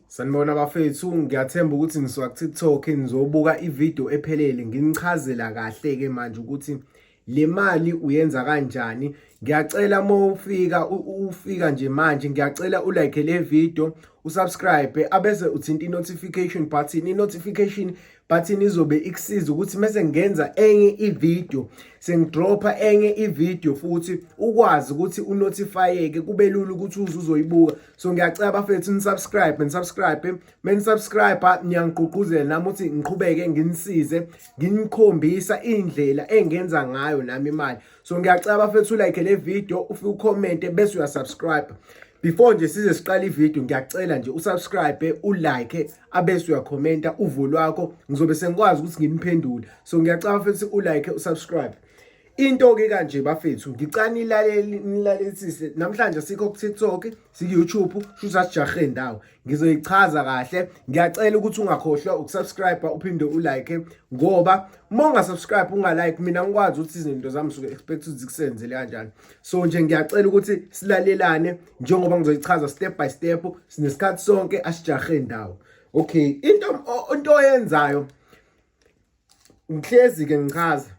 Sanibona bafethu, ngiyathemba ukuthi ngisuka ku-TikTok ngizobuka ivideo ephelele nginichazela kahle-ke manje ukuthi le mali uyenza kanjani. Ngiyacela uma ufika ufika nje manje ngiyacela ulike le video, usubscribe abese uthinta i-notification button. I-notification button izobe ikusiza ukuthi mese ngenza enye ivideo sengidropha enye ivideo futhi ukwazi ukuthi unotifyeke kube lula ukuthi uze uzoyibuka so ngiyacela bafethu nisubscribe nisubscribe menisubscribe niyangigqugquzela nami ukuthi ngiqhubeke nginisize nginikhombisa indlela engenza ngayo nami imali so ngiyacela bafethu like le video ufike ucommente bese uyasubscribe before nje size siqala ivideo ngiyacela nje usubscribe ulike abese uyakhomenta uvo lwakho ngizobe sengikwazi ukuthi nginiphendule so ngiyacela futhi ulike usubscribe into ke kanje bafethu ngicane ilaleli nilalelisise namhlanje sikho ku TikTok siku YouTube shuthi asijahe ndawo ngizoyichaza kahle ngiyacela ukuthi ungakhohlwa ukusubscribe uphinde ulike ngoba uma ungasubscribe ungalike mina ngikwazi ukuthi izinto zami suke expect ukuthi zikusenzele kanjani so nje ngiyacela ukuthi silalelane njengoba ngizoyichaza step by step sinesikhathi sonke asijahe ndawo okay into into oyenzayo ngihlezi ke ngichaza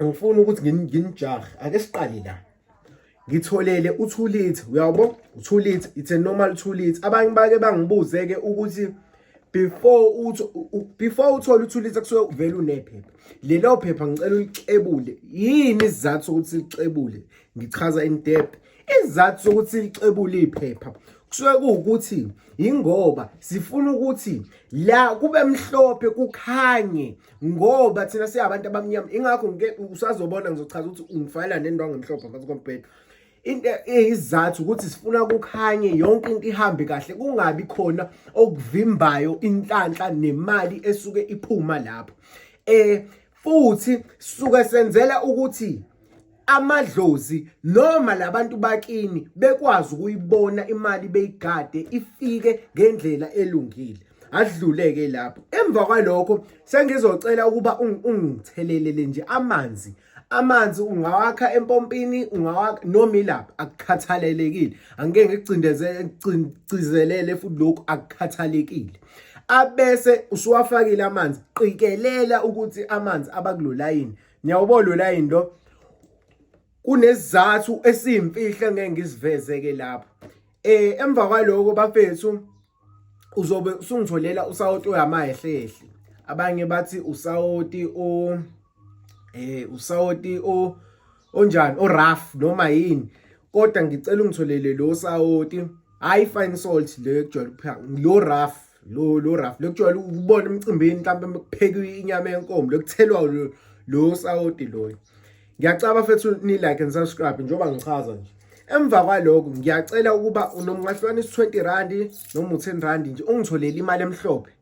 ngifuna ukuthi nginijahe ake siqale la ngitholele u2 liter uyabo u2 liter it's a normal 2 liter abanye bake bangibuze ke ukuthi before uthi before uthole u2 liter kusuke uvela unephepha lelo phepha ngicela ulixebule yini isizathu ukuthi lixebule ngichaza in depth Isizathu sokuthi licebule iphepha kusuke kuwukuthi yingoba sifuna ukuthi la kube mhlophe kukhanye ngoba thina siyabantu abamnyama ingakho ngike usazobona ngizochaza ukuthi ungifayela nendwangu emhlophe phansi kombhedo into eyizathu ukuthi sifuna kukhanye yonke into ihambe kahle kungabi khona okuvimbayo inhlanhla nemali esuke iphuma lapho eh futhi suke senzela ukuthi amadlozi noma labantu bakini bekwazi ukuyibona imali beyigade ifike ngendlela elungile adluleke lapho emva kwalokho sengizocela ukuba ungithelelele nje amanzi amanzi ungawakha empompini ungawakha noma ilapha akukhathalelekile angike ngigcindezelele futhi lokhu akukhathalekile abese usuwafakile amanzi qikelela ukuthi amanzi abakulolayini Ngiyawubona wena into kunesizathu esimfihla ngeke ngisiveze ke lapha. Eh emva kwaloko bafethu uzobe usungitholela usawoti oyamahlehle. Abanye bathi usawoti o eh usawoti o onjani o rough noma yini. Kodwa ngicela ungitholele lo sawoti high fine salt le kujwayele ukuphaka lo rough lo lo rough lokujwayela ukubona emcimbini mhlawumbe mekupheka inyama yenkomo lokuthelwa lo lo sawoti loyo ngiyacaba fethu ni like and subscribe njengoba ngichaza nje emva kwaloko ngiyacela ukuba unomngahlwana is 20 rand noma u10 rand nje ungitholele imali emhlophe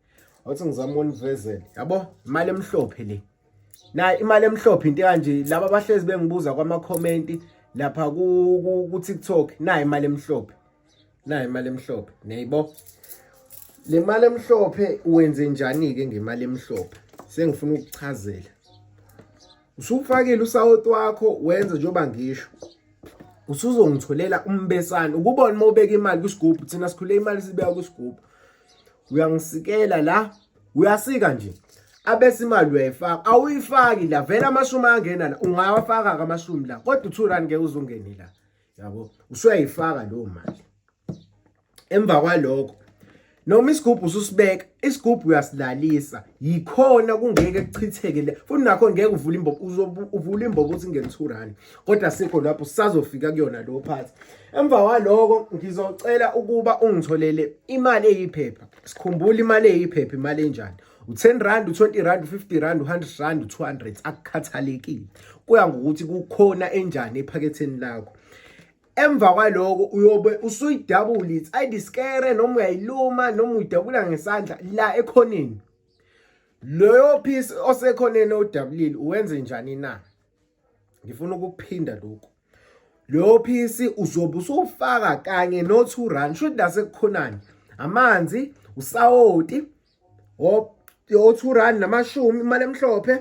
wathi ngizama univezele yabo imali emhlophe le na imali emhlophe into kanje laba bahlezi bengibuza kwama comment lapha ku TikTok na imali emhlophe nayo imali emhlophe niyayibo le mali emhlophe wenze njani-ke ngemali emhlophe sengifuna ukuchazela usufakile usawoti wakho wenze njengoba ngisho usuzongitholela umbesane ukubona uma ubeka imali kwisigubhu thina sikhule imali sibeka kwisigubhu uyangisikela la uyasika nje abese imali uyayifaka awuyifaki la vele amashumi angena la ungawafaka-ke amashumi la kodwa u-two rand ngeke uzungeni la yabo usuyayifaka leyo mali emva kwalokho noma isigubhu ususibeka isigubhu uyasilalisa yikhona kungeke kuchitheke le futhi nakho ngeke uvule imbobo uzovula imbobo uthi ngene 2 rand kodwa sikho lapho sazofika kuyona lo phathi emva kwaloko ngizocela ukuba ungitholele imali eyiphepha sikhumbule imali eyiphepha imali enjani u-10 rand u-20 rand u-50 rand u-100 rand u-200 akukhathalekile kuya ngokuthi kukhona enjani ephaketheni lakho emva kwaloko uyobe usuyidabula ithi ayidiskere noma uyayiluma noma uyidabula ngesandla la ekhoneni loyo piece osekhoneni odabulile uwenze njani na ngifuna ukuphinda lokhu loyo piece uzobe usufaka kanye no-two rand shuthi la sekukhonani amanzi usawoti o-two rand namashumi imali emhlophe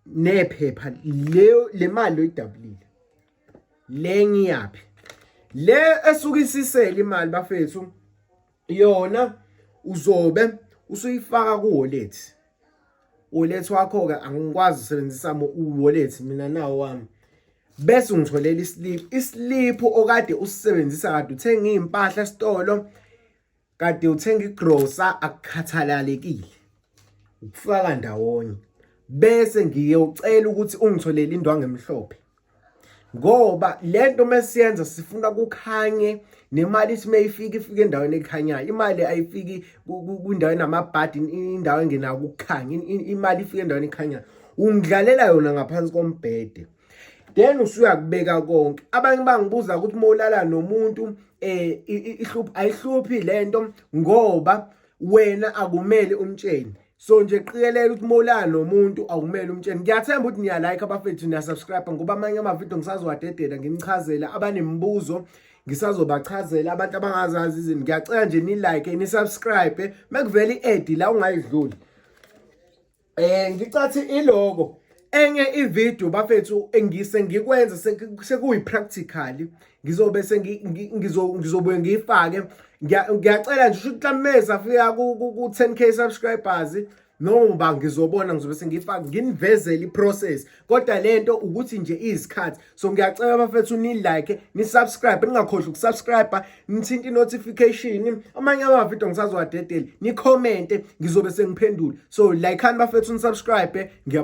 nephepha le mali oyidabulile le ngiyaphi le esuke isisele imali bafethu yona uzobe usuyifaka ku-wallet wallet wakho-ke angikwazi usebenzisa u-wallet mina nawo wami bese ungitholela islip islip okade usisebenzisa kade uthenga iy'mpahla esitolo kade uthenga igrosa akukhathalalekile ukufaka ndawonye bese ngiyocela ukuthi ungitholele indwangu emhlophe ngoba lento mesiyenza sifuna kukhanye nemali ithi mayifika ifike endaweni ekhanyayo imali ayifiki kwindawo enamabhadi indawo engenayo ukukhanya imali ifike endaweni ekhanyayo ungidlalela yona ngaphansi kombhede then usuyakubeka konke abanye bangibuza ukuthi molala nomuntu eh ihluphi ayihluphi lento ngoba wena akumele umtsheni so nje qikelela ukuthi molala nomuntu awumele umtsheni ngiyathemba ukuthi niya like abafethu niya subscribe ngoba amanye ama video ngisazowadedela nginichazele abanemibuzo ngisazobachazela abantu abangazazi izinto ngiyacela nje ni like ni subscribe mekuvela i-ad la ungayidluli Eh ngicathi iloko enye ivideo bafethu engise ngikwenza sekuyi practically ngizobe ngizobuye ngiyifake ngiyacela nje ukuthi lameza fika ku 10k subscribers noma ngizobona ngizobe sengiyifaka nginivezele iprocess kodwa lento ukuthi nje izikhathi so ngiyacela bafethu ni like ni subscribe ningakhohlwa ukusubscribe nithinta inotification amanye ama video ngisazowadedela ni comment ngizobe sengiphendula so like ani bafethu ni subscribe ngiyabonga